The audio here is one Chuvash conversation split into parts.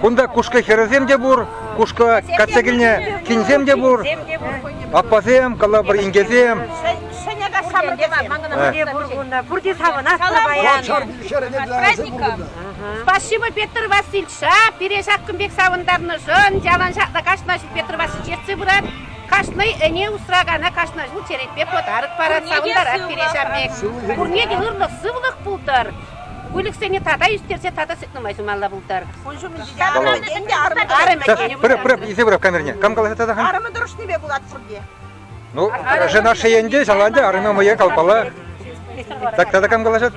Кунта кушка хӗрӗсем те пур, кушка качча килне кинсем те пур. Аппасем, калапӑр инкесем. Ҫӗнӗ кассамӑн Где Бургунда? Пурте савӑнас Спасибо Петр Васильевича пире ҫак кун пек савӑнтарнӑшӑн. Ялан ҫакна кашна ҫул Петр Васильевич ертсе пырать. Кашни ӗне усракана кашна ҫул черетпе подарок парать, савӑнтарать пире ҫамек. Пурне те ырлӑх, сывлӑх пултӑр. выльӑхсене тата ӳстерсе тата сӗт нумай сумалла пултар. Ун ҫумӗнче те арӑмӗ ӗнтӗ арӑмӗ Арӑмӗ тенӗ Пырӑп, пырӑп, исе пырӑп камерне. Кам каласа тата хан? арӑмӗ тӑрӑшнипе пулать пурте. Ну, жена шеенде, шаланде, арӑмӗ мӑйе калпала. Так тата кам калаҫат?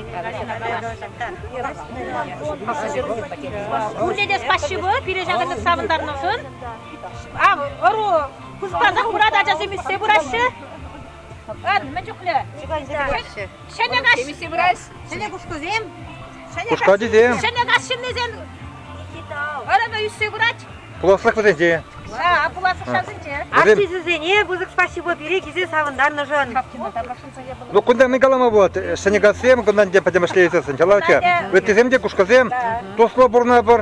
Пурте те спасибо пире ҫакӑнтан савӑнтарнӑшӑн. Ав, ӑру хускансах пырать ачасем ӳссе пыраҫҫӗ. Ан, мӗн чухлӗ. Ҫӗнӗ каҫ. Темиҫе врач. Ҫӗнӗ кушкӑсем. Кушкатисем. Ҫӗнӗ каҫ ҫыннисем. Ырӑ ӳссе пырать. Пуласлӑх вӗсенче. А, пуласлӑх ҫавсенче. Артисӗсене пысӑк спасибо пире килсе савӑнтарнӑшӑн. Ну, кунта мӗн калама пулать? Ҫӗнӗ кассем кунтан те пӗтӗмӗшле иртсен, чалаҫа. Ыттисем те кушкӑсем. Туслӑ пурӑнӑпӑр.